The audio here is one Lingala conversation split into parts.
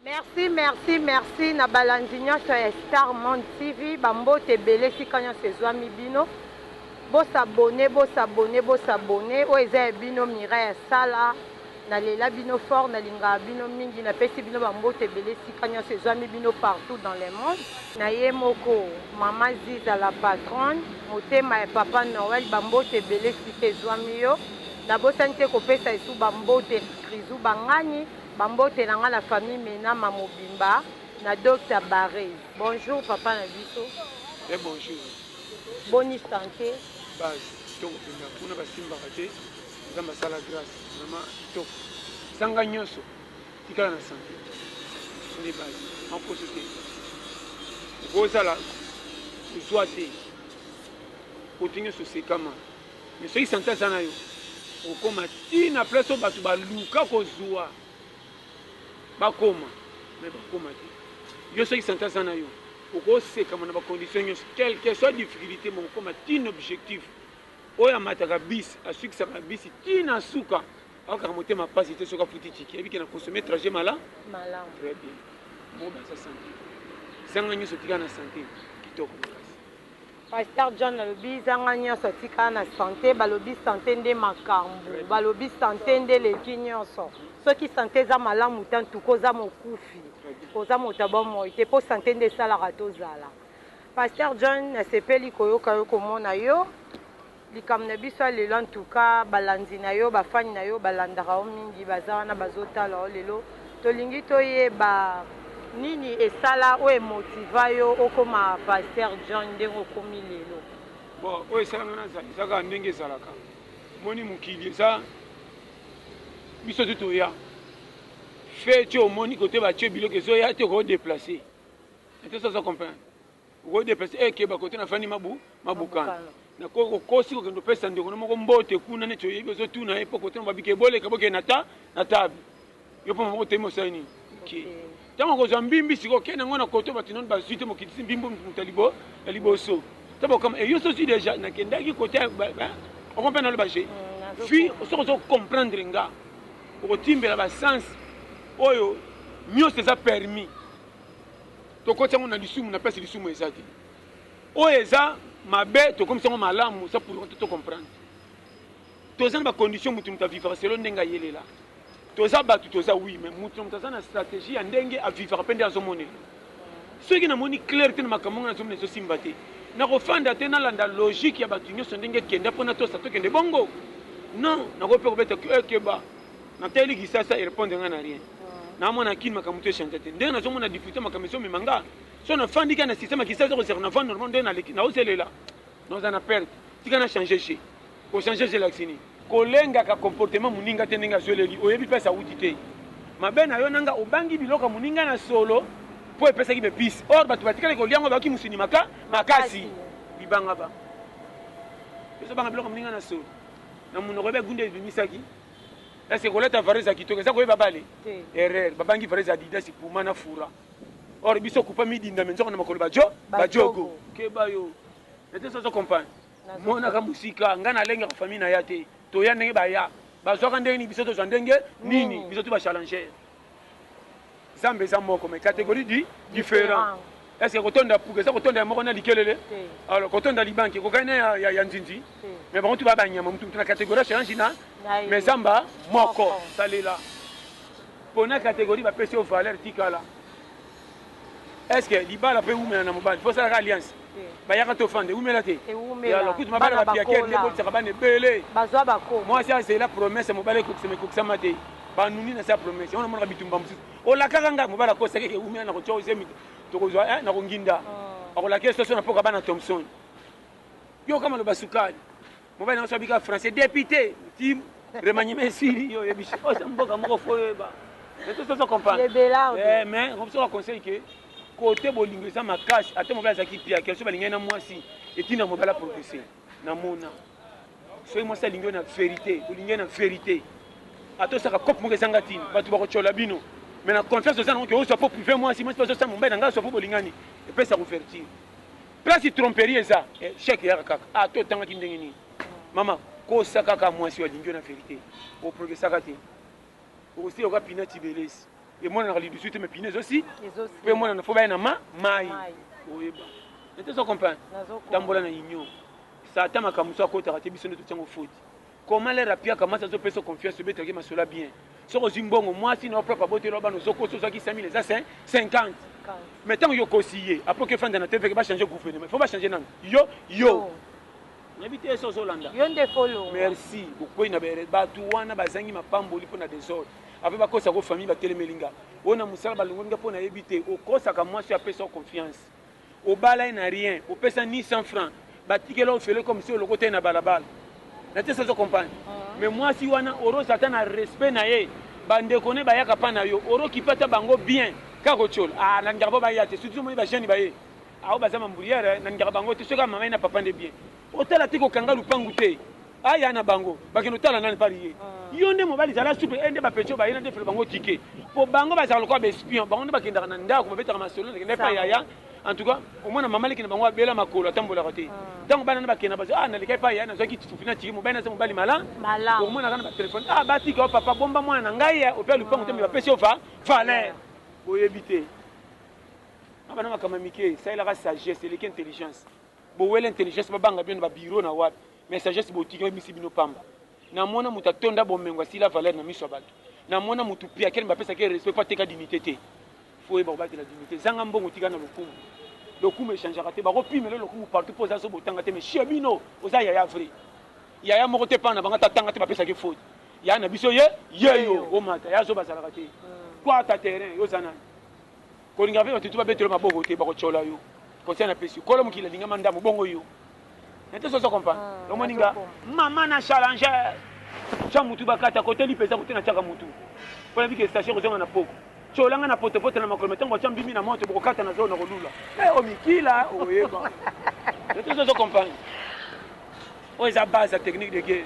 Merci merci merci na balandi nionso ya star monde TV ba mbote ebele esika nionso ezuami bino bo s'abonner bo s'abonner bo s'abonner oyo eza ya bino Mireille asala na lela bino fort na lingaka bino mingi na pesi bino ba mbote ebele esika nionso ezuami bino partout dans le monde. Na ye moko maman ziza la patronne motema ya papa Noël ba mbote ebele esika ezuami yo na bosani te kopesa lisusu ba mbote excrisou bangani. Ba mbote na nga na famille menama mobimba na docta barres. Bonjour papa na biso. Bien bonjour. Boni sante. Base kitoko penza kuna ba simbaka te nzambe asala grace vraiment kitoko zanga nyoso tikala na sante nde base makoso te okozala kozwa te koto nyoso sekama Mais soki sante aza na yo, okokoma ti na place oyo bato baluka kozua bakoma, mais bakoma te. Yo soki sante aza na yo, okosekama na ba conditions nyonso, quelque soit difficulite, mais okokoma ti na objectif. Oyo amataka bus, asukisaka na bus ti na suka, ayokaka motema pasi te soki afuti ticket, ayebi ke na consommer trajet mala, malamu. Très bien. Moba aza sante. Zanga nyonso, tika na sante. Kitoko makasi. Pasteur John alobi zanga nionso atika na sante balobi sante nde makambu balobi sante nde eleki nionso soki sante eza malamu te antuka oza mokufi oza moto ya bomoi te po sante nde esalaka tozala pasteur John nasepeli koyoka yo komona yo Likambo na biso ya lelo en tout cas balandi na yo ba fan na yo balandaka yo mingi baza wana bazo tala yo lelo tolingi toyeba nini esala oyo e motiva yo okoma pasteur John ndenge okomi lelo? Bon oyo esala nga nazala eza kaka ndenge ezalaka omoni mokili eza biso tu toya fe ti omoni kote batie biloko ezoya te oko deplace ete soza comprendre Okoki deplacer eh keba kote na fandi mabu mabukana na ko okosi kokende opesa ndeko na moko mbote kuna neti oyebi ozo tuna ye po kote na babike eboleka bokende na ta na table yo po mama otemi osali nini okay. Tango okozwa mbimbi siko okende yango na kote bato nano bazwi te mokitisi mbimbi moto libo ya liboso ta bokama eyo sosi deja nakendaki kote okompe naloba je mm, fi soki ozo comprendre nga okotimbela basense oyo nyonso eza permis tokoti yango na lisumu na place lisumu eza te oyo eza mabe tokomisi yango malamu eza pour to comprendre toza na bacondition motu moto avivaka selo ndenge ayelela toza bato toza wi mais motu na moto aza na stratégie ya ndenge avivaka mpe nde azomonela soki namoni claire te na makambo ngai nazomona ezosimba te nakofanda te nalanda logique ya bato nyonso ndenge ekenda mpo natosa tokende bongo non nakoki mpe kobeta keba Na tali kisasa e repondre nga na rien. Na mona kin makambo to echangea te. Ndenge nazo mona difficulté makambo ezo mema nga. So na fandi ka na système ya kisasa ko seka na fandi normal ndenge na leki na ozelela. Na oza na perte. Tika na changer jeu. Ko changer jeu elakisi nini? Kolengaka comportement muninga te ndenge azo eleli oyebi place awuti te. Mabe na yo na nga obangi biloko ya muninga na solo po epesaki be pis. Or batu batikali kolia yango bayoki musuni maka makasi. Bibanga ba. Ezo banga biloko ya muninga na solo. Na munoko ebe gunda ebimisaki. Est-ce kolata varese ya kitoko eza koyeba bale? Erreur. Babangi varese Adidas, Puma na Fura. Or biso kupa midinda me nzoko na makolo ba jo, ba jogo. Keba yo. Nete sozo comprendre. Monaka musika, nga na lengaka famille na ya te. Toya ndenge baya. Bazwaka ndenge nini biso tozwa ndenge nini? Biso tout ba challengeurs. Zambe eza moko mais categorie di different. Est ce que kotonda puka eza kotonda ya moko na likelele? Alors kotonda libanki ekokani na ya, ya, ya nzinzi? Mais bango tu ba banyama mutu mutu na categorie change na mais zamba moko. Salela pona categorie bapesi yo valeur tikala. est ce que libala mpe ewumela na mobali mpo osalaka alliance bayaka te ofanda ewumela te yalo kutu mabala bapiake te botisaka bana ebele mwasi azela promese mobali ekokisama ekokisama te banuni na se ya promese yango namonaka bitumba mosusu olakaka ngai mobali akosaki ewumela na kotya ozemi tokozwa eh, na konginda oh. akolakela soso na mpoka bana thomson yoka maloba sukali Mobali na biso abika français depute ti remaniement esili yo oyebi oyo se mboka moko fo oyeba mais to soso comprendre eh, mais biso ba conseil ke kote bolingo eza makasi ata mobali azalaki pia kelso balingani na mwasi etina mobali aprogrese na mona soki mwasi alingi yo na verité olingi na verité ata osaka cope moko ezanga ntina bato bakotyola bino mais na confiance oza nango ke ozwa mpo prive mwasi mwasi bazosala mobali na ngai azwa mpo bolingani epesa couverture Place tromperie eza echec eyaka kaka ah to tangaki ndenge nini mama kosa kaka mwasi oyo alingi yo na verite o progressaka te okosila oka pina tibelesi emonanaka lidusu te me pina ezosi mpe emonana fo baya na ma mai oyeba nete ozo comprendre tambola na union satan makambo mosusu akotaka te biso nde totiango foti Comment leur apiaka mwasi azo peso confiance obetaki masolo ya bien soki ozwi mbongo mwasi na yo propre aboteli yo bana ozo kosa ozwaki 5000 eza 50 mais tango yo okosi ye après oke fanda na tvk ba changer gouvernement faut ba changer nanu yo yo nayebi te so ozolanda yo nde folo merci bokwei na bere bato wana bazangi mapamboli mpo na desordre après bakosa ko famille batelemeli nga oyo na mosala balongoli nga mpo nayebi te okosaka mwasi apesa yo confiance Obala ye na rien, opesa ni 100 francs, batikela yo ofele comme si olokota ye na balabala. Na tese ozo comprendre? Ah. Mais mwasi wana oroza ata na respect na ye, ba ndeko ne bayaka pa na yo, oro kipe ata bango bien. Kaka kotshiola. Ah, na lingaka po baya te, surtout omoni ba jeunes baye. Ah, oyo baza ma mburiere, na lingaka bango te, soki kaka mama ye na papa nde bien. Otala te kokanga lupangu te. Aya na bango bakende otala nani pari ye yo nde mobali zala souple eye nde ba petit oyo baye na defele bango tike po bango bazalaka lokola ba espion bango nde bakendaka na ndako babetaka masolo na kenda epai yaya en tout cas omona mama leki na bango abela makolo atambolaka te ntango bana na bakenda bazo ah naleka epai yaya nazwaki titufi na tike mobali naza mobali mala omonaka na batelefone ah batika yo papa bomba mwana na ngai ya ope ya lupango te mbi bapesi yo va valeur boyebi te abana makambo ya mike esalelaka sagesse eleki intelligence bowela intelligence babanga bino na babiro na wapi Mais sagesse botiki ebimisi bino pamba. Namona mutu atonda bomengo asila valeur na miso ya batu. Namona mutu piaker mais apesaka ye respect po ateka dignite te. Faut oyeba kobatela dignite. Zanga mbongo tika na lokumu. Lokumu echangeaka te. Bako pimela yo lokumu partout po oza zoba otanga te mais chez bino oza yaya vrai. Yaya moko te epa na bango ata atanga te bapesaka ye faute. Yaya na biso ye yeyo omata. Yaya zoba azalaka te. Kwata terrain yo oza nani? Kolinga pe batu tu babeta yo maboko te bako tshola yo conseil na pesi yo kolo mokili alinga ma ndamu bongo yo na te soki ozo comprendre omoni nga maman na challenger tsha mutu bakata kote lipa eza kote na tshiaka mutu po nayebi ke station ekozonga na poko tshola nga na poto poto na makolo mais tango batsha mbimi na moto boko kata na zolo nako lula eh omikila okoyeba na te soki ozo comprendre Oyo eza base ya technique de guerre.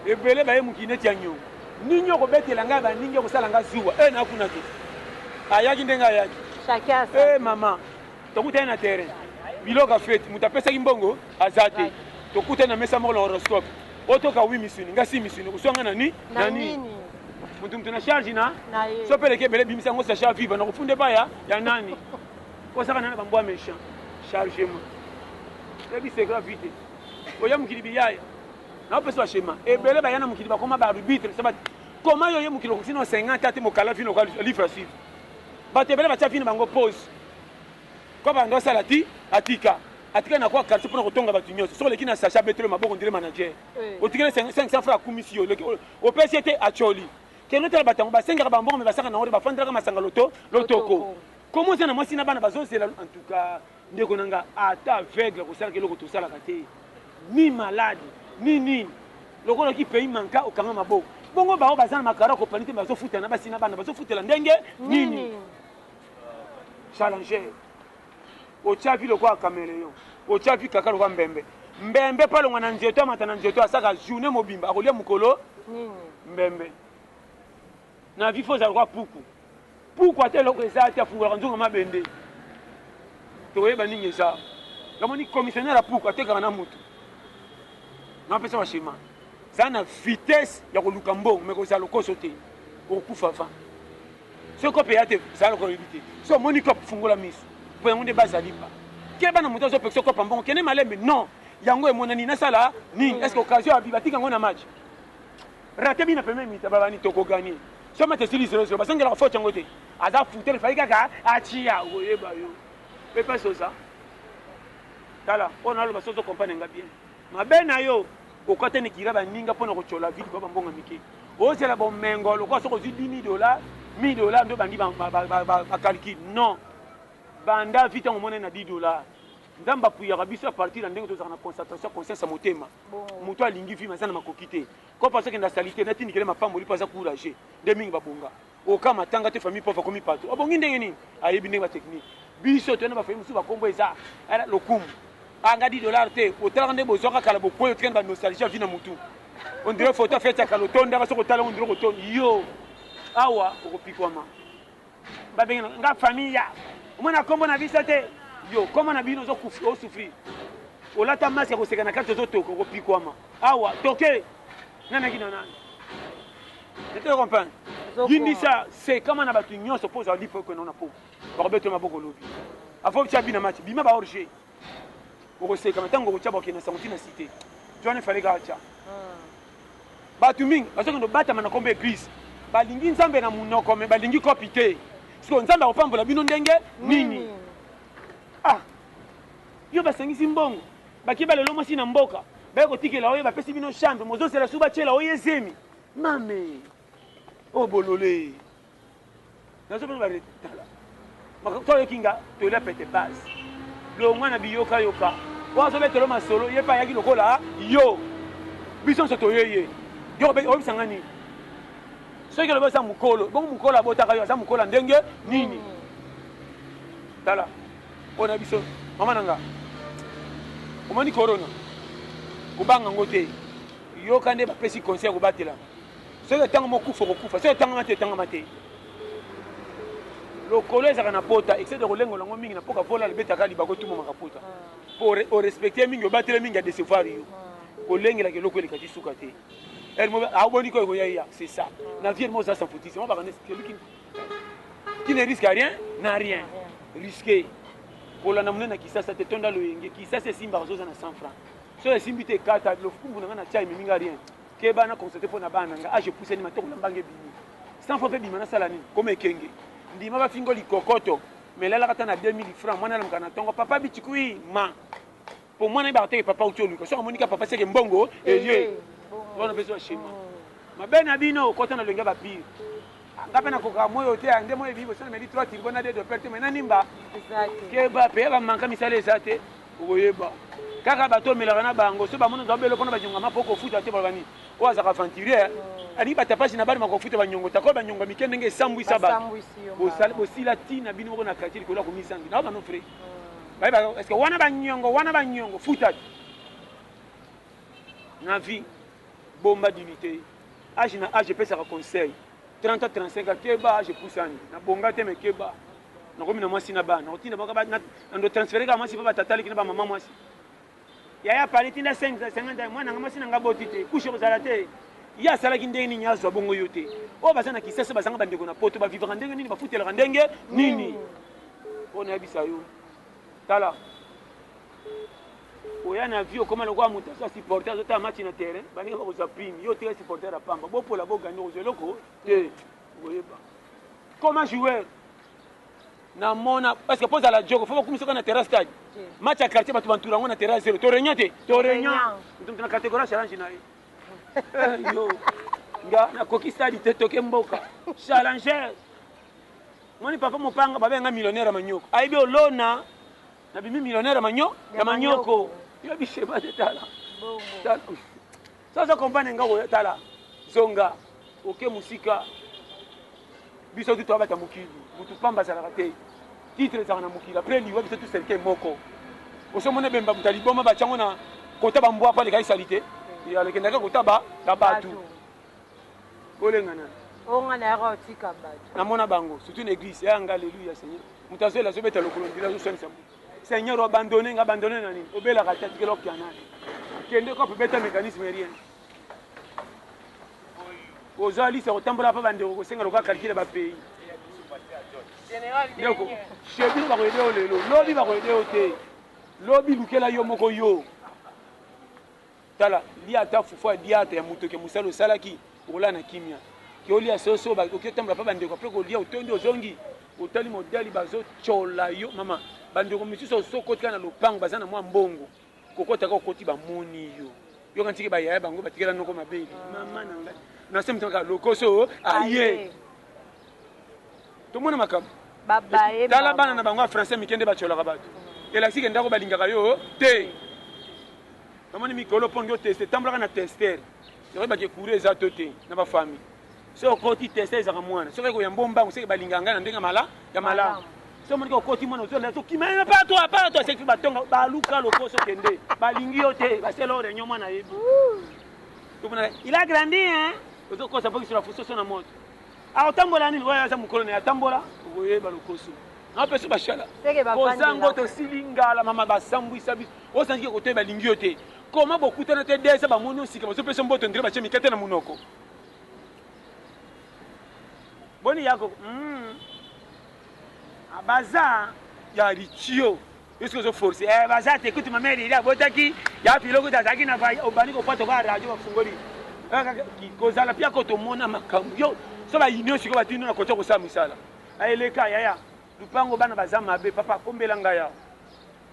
Ebele baye mokili neti ya nyongo. Nini oko betela nga ya ba ninga ekosala nga zuwa eh na kuna te. Ayaki ndenge ayaki. Chacun a sa. Eh mama. Tokutani na terrain. Biloko ya fete. Moto apesaki mbongo aza te. Tokutani na mesa moko na horoscope. Otoka oui misuni nga si misuni okosua nga na ni na nini. Moto moto na charge na na ye. So peleke ebele bimisa yango sachat viva na kofunda epai ya ya nani. Kozaka na na ba mbwa mechant. Chargement. Yebi secret vite. Oya mokili biyaya. Na opesa ba schéma. Ebele baya na mokili bakoma ba arbitre se ba Comment yo ye mokili okoki na 50 ate mokala vino kwa livre à suivre. Bato ebele batia vino bango pause. Kwa bando asala ti atika. Atika na kwa quartier pona kotonga bato nyonso. Soko leki na sachet abetelo maboko ndire manager. Otikele 500 francs akumisi yo. Opesi ete acholi. Kende otala bato yango basengaka ba mbongo mais basaka na ngo te bafandaka masanga loto lotoko. Comment oza na mwasi na bana bazozela en tout cas. Ndeko na nga ata aveugle akosalaka eloko tosalaka te ni malade ni nini lokola ki pays manka okanga maboko bongo bao baza na makara kopani te bazo futa na basi na bana bazo futela ndenge nini challenger otia vi lokola cameleon otia vi kaka lokola mbembe mbembe pa longwa na nzeto amata na nzeto asaka journée mobimba akolia mokolo mbembe Na vie faut zala lokola puku. Puku ata eloko eza te afungolaka nzungu ya mabende. Tokoyeba nini eza. Yo omoni commissionnaire ya puku atekaka na mutu. Na pesa ba schema. Zala na vitesse ya koluka mbongo mais kozala lokoso te. Okokufa avant. Soki kope ya te zala lokola oyebi te. Soki omoni kope fungola misu. Po yango nde baza lipa. Keba na mutu azo pekisa yo kopa mbongo kende malembe non yango emonani nasala nini est ce que occasion ya vie batika yango na match. Rate bi na pembeni mita ba bani toko gagne soki match esili zero zero bazongelaka faute yango te aza fouteur fallait kaka atia koyeba yo pe pasi oza tala oyo naloba soki ozo comprendre nga bien mabe na yo okata nikira baninga mpo na kotyola vide ba bambonga mike ozela bomengo lokola soki ozwi 10 000 dola 1000 dola nde obandi bacalcule non banda vi ntango omonani na 10 dola Nzambe apuyaka biso a partir ya ndenge tozalaka na concentration ya conscience ya motema. Moto alingi vie mais aza na makoki te. Comme azo kende na salite natindikela ye mapamboli po aza courageux nde mingi babonga. Oka matanga te famille pauvre akomi patron obongi ndenge nini? Ayebi ndenge ba technique. Biso toye na ba famille mosusu ba kombo eza eh lokumu ah nga 10 dollars te otalaka ndenge bozuaka kala bokueyi otikali ba nostalgie ya vie na mutu on dirait photo ya fete ya kala otondaka soki otali yango on dirait okotondi yo awa okopikwama. Ba bengi na nga famille ya omona kombo na biso te yo kombo na bino ozo kufi o souffrir olata masque ya koseka na kati ozo toka okopikwama awa toke nani akina nani ete comprendre yindisa sekama na bato nyonso mpo ozwa lipo ekwe nao na po bakobetwe maboko lobi afo btia bina mati bima ba orge okoseka mais ntango okotya bakende na sango ntina site jwana efale kaka tya bato mingi bazokende obatama na kombo eglise balingi nzambe na monoko me balingi kopi te sikoyo nzambe akopambola bino ndenge nini ah yo basangisi mbongo baki balelo mwasi na mboka baye kotikela oyo bapesi bino chambre mozozela su batyela oyo ezemi mame o oh, bolole nazo bana bare tala makambo to yoki nga to la pete base longwa na biyoka yoka wa zo betelo masolo ye pa yaki lokola yo biso nso toye ye yo obisa nga nini soki olobi oza mokolo bongo mokolo abotaka yo aza mokolo ndenge nini hmm. tala oyo na biso mama na nga omoni corona kobanga yango te yoka nde bapesi conseil ya kobatela soki etangama okufa okokufa soki etangama te etangama te lokolo ezalaka na pota excede kolengola yango mingi na mpoka vola libetaka libaka otumbamaka pota mpo orespecte mingi obatele mingi adecevoir yo kolengelaka eloko eleka ti suka te aoboni ko ekoya ya c'est ça na vie elimo oza sanfutisi yango bakana celui qui ne risque rien na rien risque kolanda monene na kisasa te tonda loyenge kisasa esimbaka zoza na 100 franc so esimbi te ekata lofukumbu na ngai na tia ememi ngai rien Keba na constate mpo na bana na nga age epusani matoko na mbanga ebimi sans fois mpe bima na sala nini koma ekenge ndima ba fingo likokoto mais lalaka ata na 2000 francs mwana alamuka na tongo papa bitikui ma mpo mwana ayebaka te ke papa auti oluka soki amoni ka papa seke mbongo eye wana mpe zwa shema mabe na bino kota na lolenge ya ba pire Nga pe nakokaka moi oyo te ya nde moi ebimi boso nameli trois turbo na deux doper te mais na nimba keba pe yaba manka misala eza te okoyeba kaka bato omelaka na bango so bamoni ozaba beloko na banyongama po kofuta te baloba nini oyo azaka aventurier oh. alingi batapasi na bana makofuta banyongo tako banyongo ya mike ndenge esambwisa bato bosila ntina bino moko na quartier likolo ya komizangi nao bano frais oh. bayebaka parceke wana banyongo wana banyongo futa te na vie bomba dignité Age na age epesaka conseil. 30 ans 35 ans keba age epusani. Na bonga te mais keba. Nakomi na mwasi na bana. Nakotinda baka ba na ndo transférer ka mwasi pa ba tata leki na ba maman mwasi. Yaya pale tinda 5 ans 50 ans mwana nga mwasi na nga boti te. Couche kozala te. Ye asalaki ndenge nini azwa bongo yo te. Oyo baza na Kisasa bazanga ba ndeko na poto ba vivaka ndenge nini ba futelaka ndenge nini. Oyo na yebisa yo. Tala oya na vie okoma lokola moto aza supporter azotala match na terrain baninga bakozwa prime yo otika supporter ya pamba bopola bogani okozwa eloko te okoyeba koma joueur na mona parce que mpo ozala joko fo bakumisa oka na terrain stade match ya quartier bato bantura yango na terrain ya zero to réunion te to réunion moto moto na catégorie challenge na ye eh, yo nga nakoki stade te toke mboka challenger Omoni papa mopanga ba benga millionnaire ya manioko ayebi olona na bimi millionnaire ya manyo ya manioko yo bisema te tala sozo kompane nga oyo tala zonga oke mosika biso tu toyabata mokili motu pamba azalaka te titre ezalaka na mokili apres liwa biso tu serke moko osomona ebemba moto ya liboma batyango na kota bambwa mpo alekaki salite alekendaka kotaba na bato Olenga nanu. Oyo nga nayaka yo tika batu. Na mona bango surtout na eglise yaya nga alleluia seigneur mutu azo lela azo beta lokolo ondire azo swanisa mutu seigneur o abandonne nga abandonne na nini obelaka te atikela okia nani kende kope beta mecanisme rien oza lisa kotambola pa bandeko kosenga lokola calcule ba pays ndeko shebi bakoyede yo lelo lobi bakoyede yo te lobi lukela yo moko yo Tala lia ata fufu ya biata ya mutoki ya musala osalaki okolala na kimia ke olia soso ba oki otambola pa bandeko apres kolia otondi ozongi otali modali bazo tshola yo mama bandeko misusu osi okoti kaka na lopango baza na mua mbongo kokota kaka okoti ba moni yo yoka ntike ba yaya bango batikela noko mabe mama na ngai na se motema kaka lokoso aye tomona makambo tala bana na bango ya français mike nde batyolaka bato elakisi ke ndako balingaka yo te namoni mikolo mpo ndio teste tambolaka na tester nakoyebake courant eza to te na bafami soki okoti tester ezaka mwana soki ekoya mbombango seke balingaka ngai na ndenge mala ya malamu so monike okoti mwana ozolela tokima ye pa to apa to aseki batonga baluka lokoso kende balingi yo te basela o reunion mwana yebi il a grandi hein ozokosa mpo kisolo afusoso na moto Akotambola nini oyo aza mukolo na atambola okoyeba lokoso na peso bashala oza ngo tosili ngala mama basambwisa biso osanzike kotoye balingi yo te koma bokutana te desa bamoni osika bazopesa mboto ndire batie mikate na monoko boni yako mm. baza ya ritio Yo soki ozo force eh baza te kutu mama Elili abotaki ya filo kutu azalaki na va obandi ko pota ba radio bafungoli kozala pia ko tomona makambo yo so ba union siko batino na kotia kosala misala eleka yaya lupango bana baza mabe papa kombela ngai ya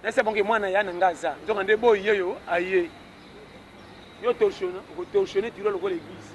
nasi abonge mwana ya na ngai aza nzoka nde boyi yeyo aye yo torsiona okotorsione tiro lokola eglise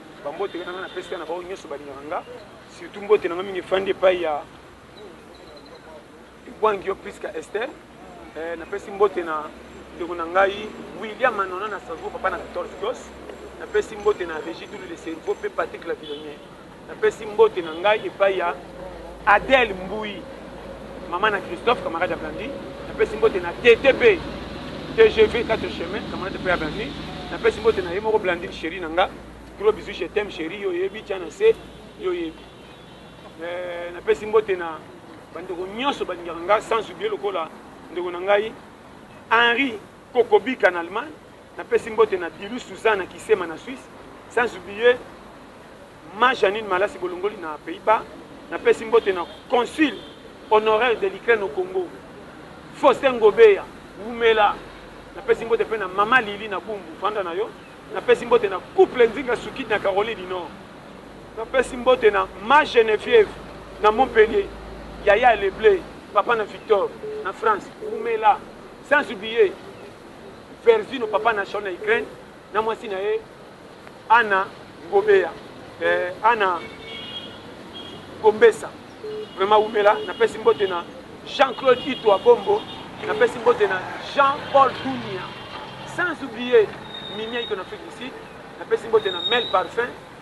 Ba mbote nga nanga na pesi na baoyo nionso balingaka nga surtout mbote nanga mingi efandi epai ya Bwangio Prisca Esther eh, na pesi mbote na ndeko na ngai William Manona na Strasbourg papa na 14 gos na pesi mbote na Regi Dulu le cerveau pe Patrick la Vilonier na pesi mbote na ngai epai ya Adèle Mbuyi Maman na Christophe, camarade ya Blandi, napesi mbote na TTB, tgv 4 chemin, camarade pe ya Blandi, napesi mbote na ye moko Blandine cherie na nga, gros bisous je t'aime cherie, yo oyebi, tia na se, yo oyebi. Euh, napesi mbote na bandeko nyonso balingaka nga sans oublier lokola ndeko na ngai Henri Kokobika na Allemagne, napesi mbote na Dilu Suzanne na Kisema na Suisse, sans oublier Mma Janine Malasi Bolongoli na Pays-Bas, Napesi mbote na Consul honoraire de l'Ukraine au Congo, Faustin Ngobeya, wumela. Napesi mbote mpe na Mama Lili na Bumbu, vanda na yo. Napesi mbote na Couple Nzinga Sukidi na Caroline du Nord. Napesi mbote na Mma Genevieve na Montpellier, Yaya ya Le Bleu, Papa na Victor na France, wumela. Sans oublier Vervino, Papa na Shaul na Ukraine. na mwasi na ye Anna Ngobeya eh, Anna Gombesa vraiment wumela napesi mbote na Jean-Claude Itwa Bombo napesi mbote na Jean-Paul Dunia sans oublier Mimia Iko na Afrique du Sud napesi mbote na Mel Parfum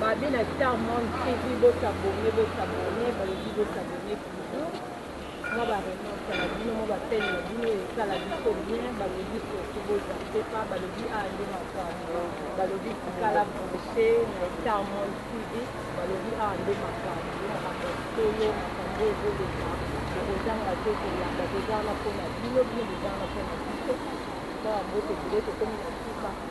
Babe na Star Monde TV bo s'abonner bo s'abonner balobi bo s'abonner toujours mwa ba remarque na bino mwa ba peine na bino esala biso bien balobi surtout bo zappe pas balobi a nde makambo balobi tikala branche na Star Monde TV balobi a nde makambo makambo solo makambo ezoleka tokozanga te kolanda toza wana mpo na bino bino boza wana mpo na biso mpo yango tokile tokomi na suka